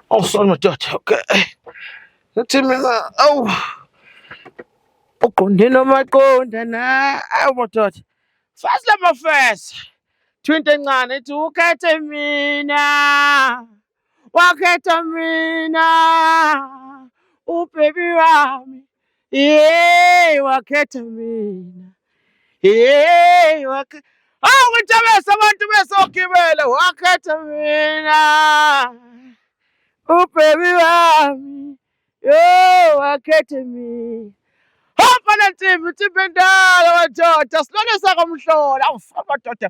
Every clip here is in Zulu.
Awusona madoda okay. Ngathi mina awu uqonde nomaqonda na awu madoda. Fast lama fast. Twinto encane ithi ukhethe mina. Wakhetha mina. Ubaby wami. Yey wakhetha mina. Yey wakhe Awu ngijabesa abantu besogibela wakhetha mina. Ubhebi wami. Yey wakhetha mina. Hamba nantsimbi, ntsimbi endala madoda, silwane sakomhlola. Awufa madoda.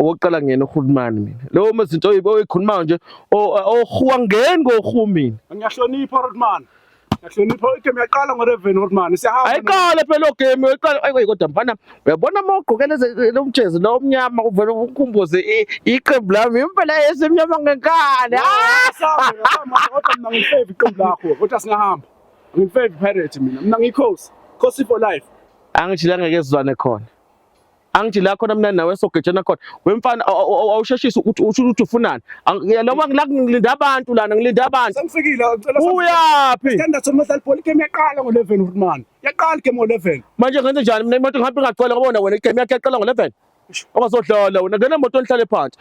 okokuqala ngiyena urhulumani mina leyo mezinto oyikhulumayo nje ohuwa ngeni kohu mina ngiyahlonipha urhulumani ngiyahlonipha igame yaqala ngoreven urhulumani siyahamba ayiqale phela lo game uyiqala ayi kodwa mfana uyabona uma ugqokele lo mjezi lo omnyama uvele ukhumbuze iqembu lami impela esemnyama ngenkani kodwa mina ngifave iqembu lakho kodwa singahamba ngifave pirate mina mina ngikhosi khosi for life angijilanga kezwane khona angithi la khona mina nawe sogejana khona wemfana awusheshisa ukuthi usho ukuthi ufunani noma ngila ngilinda abantu lana ngilinda abantu sengifikile ngicela uyaphi standard somadlali bhola igame yaqala ngo-11 urman yaqala igame ngo-11 manje ngenze njani mina imoto ngihambe ngacela kubona wena igame yakhe yaqala ngo-11 ongazodlala wena ngena emoto nihlale phansi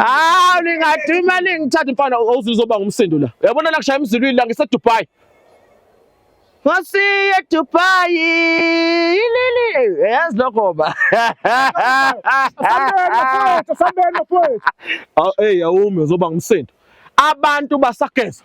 Ah, ningadima ningithatha mfana awuze uzoba ngumsindo la. Uyabona la kushaya emzilwini la ngise Dubai. Ngosiye Dubai. Ilili, yazi lokho ba. Sambena mfowethu, sambena mfowethu. Aw, hey awumi uzoba ngumsindo. Abantu basageza.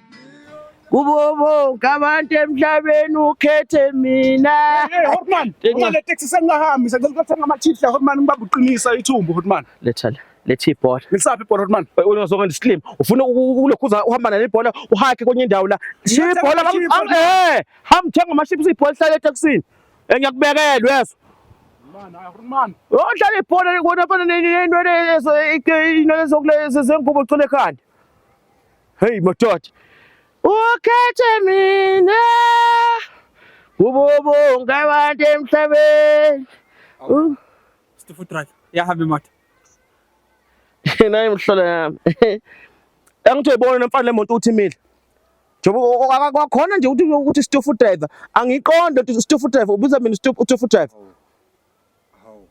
kubo bonke abantu emhlabeni ukhethe mina hey hotman uma le taxi sengahambi sengicela ukuthenga ama chips la hotman ngibaba uqinisa ithumbu hotman letha la letha ibhola ngisaphi ibhola hotman unozoke ndislim ufuna ukulokhuza uhamba nale ibhola uhake kwenye indawo la shiya ibhola eh hamba thenga ama chips ibhola hlale etaxini engiyakubekelwe eh, yeso odlala ibhola kona fana nento lezo inwele zokulezo zengubo cule ekhanda Hey matoto. Ukhethe mina. Ubobo ngabantu emhlabeni. Uh. Stifu track. Ya habi mata. Nayi mhlola yami. Angithe ibona nemfana lemonto uthi imile. Njengoba kwakhona nje ukuthi ukuthi stifu driver. Angiqonde ukuthi stifu driver ubuza mina stifu driver. Hawu.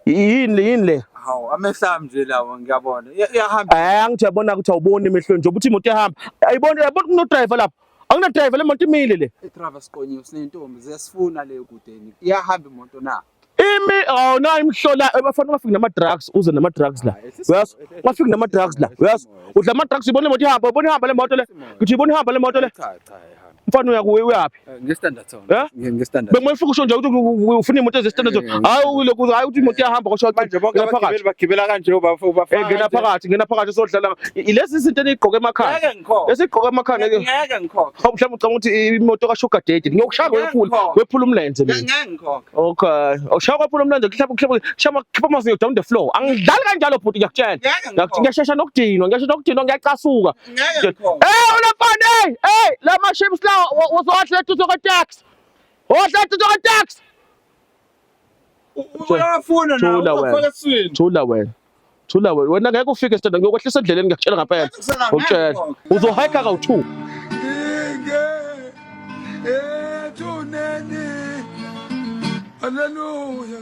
Yini le yini le? Hawu amehla nje lawo ngiyabona. Iya- Iyahamba. Eh angithi yabona ukuthi awuboni emehlweni nje ukuthi imoto ihamba. Ayibona yabona kuno driver lapha. Akuna driver le moto imile le. Idrava siqonyiwe sinentombi ziyasifuna le kudeni. Iyahamba imoto na. Imi awu na imhlola bafana ungafiki nama drugs uze nama drugs la. Hayi, ehlisa Uyazi? imoto, ehlisa Ungafiki nama imoto, drugs la. ehlisa Uyazi? imoto. Udla ama drugs ibona imoto ihamba, ibona ihamba le moto le. Ehlisa imoto. Ngithi ibona ihamba le moto le. Cha cha ihamba. Mfana uya kuwe uyaphi? Eh, nge standard zone. Eh? Nge nge standard. Bengwe fuku shonje ukuthi ufuna imoto ze standard zone. Eh, hayi ule kuzo hayi ukuthi imoto ihamba kosho manje bonke abagibeli bagibela kanje ubafo ubafo. Eh ngena phakathi ngena phakathi sodlala. Ilezi izinto enigqoke emakhaya. Ngeke ngikhona. Esigqoke emakhaya ngeke. Ngeke ngikhona. Hawu mhlawumbe ucanga ukuthi imoto ka sugar daddy. Ngiyokushaya wephula wephula umlenze mina. Ngeke ngikhona. Okay. Awushaya wephula umlenze kuhlapha kuhlapha shama khipha amazinyo down the floor. Angidlali kanjalo bhuti ngiyakutshela. Ngiyashesha nokudinwa ngiyashesha nokudinwa ngiyacasuka. ngeke ngikho hey ulafana hey hey la ma ships la uzohla tuzo ka tax hohla tuzo ka tax uyafuna na ufaka swini thula wena thula wena wena ngeke ufike sithanda ngiyokwehlisa endleleni ngiyakutshela ngampela ngokutshela uzohayika ka u2 Hallelujah.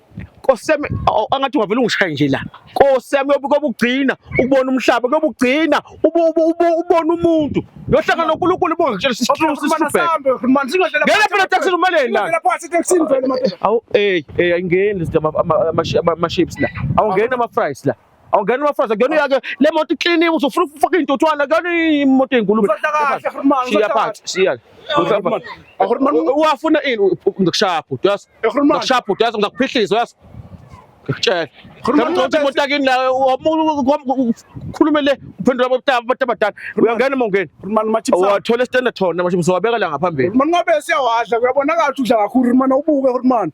Nkosiyami angathi ungavele ungishaye nje la. Nkosiyami yobukobugcina ukubona umhlaba kobugcina ubona umuntu. Yohlanga noNkulunkulu bonke ngitshela isihlulu sisubheke. Ngena phela taxi umeleni la. Awu hey hey ayingeni lezi ama chips la. Awungena ama fries la. Awungena ubafazi akuyona yakhe le moto ikliniwe usufuna ukufaka intuthwana akuyona imoto eyingulube. Shiya phansi, shiya. Uwafuna ini ngikushaya bhuti yazi. Ngikushaya bhuti yazi ngizakuphihlisa yazi. Ngikutshela. Ngikuthi imoto yakini la ukhulume le uphendula abantu abadala. Uyangena mongeni. Wathola istand thona manje mzowabeka la ngaphambili. Manje ngabe siyawadla kuyabonakala ukuthi udla kakhulu manje ubuke manje.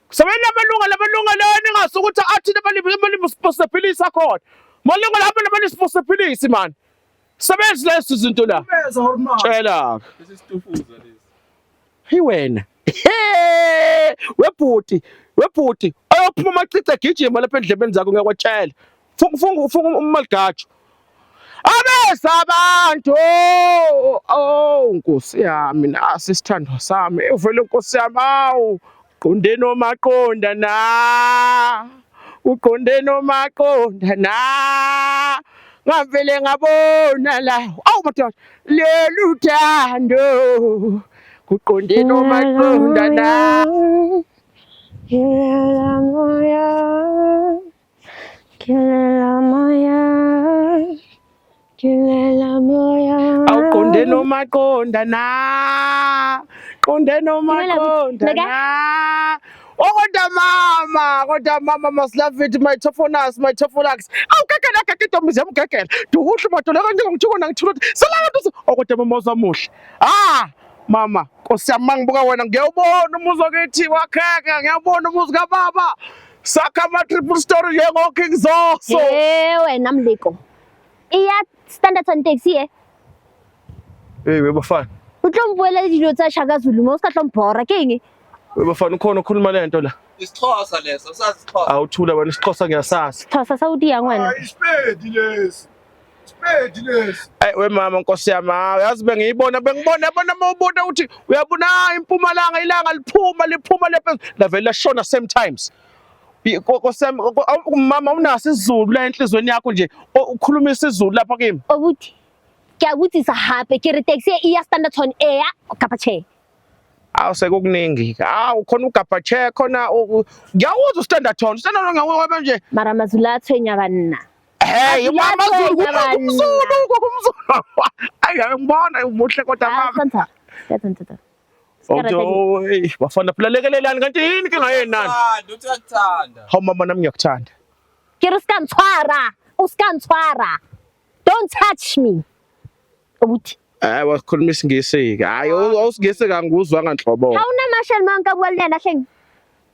Sebenza amalungelo amalungelo ningazi ukuthi athini amalimi siphosephelisa khona malungelo abantu abantu siphosephelisi mani sebenzi lezi zinto la tshela hi wena webhuti webhuti oyophuma amacici agijima lapha endlebeni zakho ngiyakwatshela funga ufunga umaligajo abeza abantu oh, oh nkosi yami nasi isithandwa sami uvele nkosi yami awu qonde nomaqonda na uqonde nomaqonda na ngavele ngabona la awu madoda lolu thando kuqonde nomaqonda na Kilela moya, kilela moya. Awuqonde noma qonda na. Qonde noma qonda na. Oh kodwa mama, kodwa mama must love it my tofonas, my tofolax. Aw kekela keke intombi zam kekela. Duhle madola kanje ngithukona ngithula. Salala ntosi. Oh kodwa mama uzamuhle. Ah, mama, Nkosi yami mangibuka wena ngiyawubona umuzi wakithi wakheka, ngiyawubona umuzi kababa. Sakha ama triple story njengo King Zoso. Eh wena mliko. Iya standard on taxi eh. Hey we bafana. O tlo mbuela le dilo tsa Shaka Zulu mo o ska tlo mbora ke eng? We bafana ukhona okhuluma le nto la. Isixhosa leso, usazi isixhosa. Awuthula wena isixhosa ngiyasazi. Thosa sa udia ngwana. Isipedi lesi. Hey we mama nkosi yami hayi yazi bengiyibona bengibona yabona uma ubuta ukuthi uyabona ah, impumalanga ilanga liphuma liphuma lephezulu lavele lashona same times mama unaso isizulu la enhlizweni yakho nje ukhuluma isizulu lapha kimi ukuthi ngiyakuthisa hape ke re taxi e ya standardton eya kapa che awu sekukuningi awu khona ugabha che khona ngiyawuza ustandarton ustandarton ngiyawuba nje mara mazula athwenya kanina Hey, mama Zulu kumzulu kumzulu. Ayi ngibona umuhle kodwa mama. Santha. Santha. Awudoyi, oh, bafana phela lekelelani kanti yini ke ngaye nani? Uthi uyakuthanda. Hawu mama nami ngiyakuthanda. Ke uskantshwara, uskantshwara. Don't touch me. Ubuthi Hayi wakhuluma isingisi ke. Hayi awusingisi kangikuzwa nganhlobo. Awunamashali manka kwalena hleng.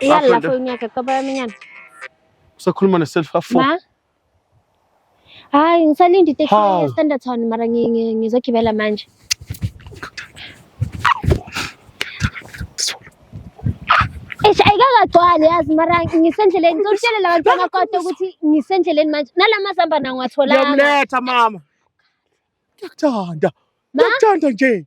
Yalla fo nyaka ka ba minyan. Usakhuluma ne self afo. Ma. Hayi ngisalinde iteksi ye standard town mara ngizogibela manje. Eish ayikakagcwali yazi mara ngisendleleni ngizokutshela labantwana kodwa ukuthi ngisendleleni manje nalamazamba nawo ngiwatholanga. Ngiyamletha mama. Ngiyakuthanda. Ngiyakuthanda nje.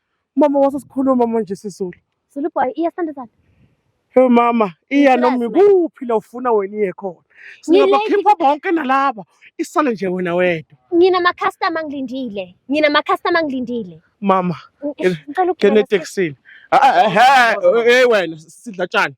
Mama wase sikhuluma manje sisulu. Zulu boy iya sithanda sami. Hey mama, iya Ngicela noma sibheke. ikuphi la ufuna wena iye khona. Ngilate. Singabakhipha bonke nalaba. Isale nje wena wedwa. Ngina ma customer ngilindile. Ngina ma customer ngilindile. Mama, Ng- Ngena- Ngicela ukugibela ngena etekisini. Ah, ah, ah, Hey wena sidla tshani.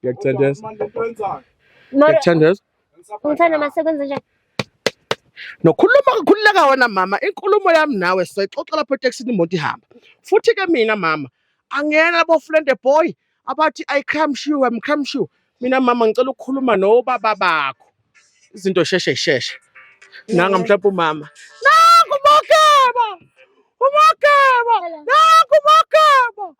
Ngiyakuthandeza. Mara Ngiyakuthandeza. umthanda mase kwenze njani? Nokhuluma kukhululeka wena mama, inkulumo yami nawe soyixoxa lapho etekisini imoto ihamba. Futhi ke mina mama, angiyena labo friend boy abathi I come sure, I'm come sure. Mina mama ngicela ukukhuluma nobaba bakho. Izinto sheshe sheshe. Nanga mhlawumbe umama. Nangu umageba. Umageba. Nangu umageba.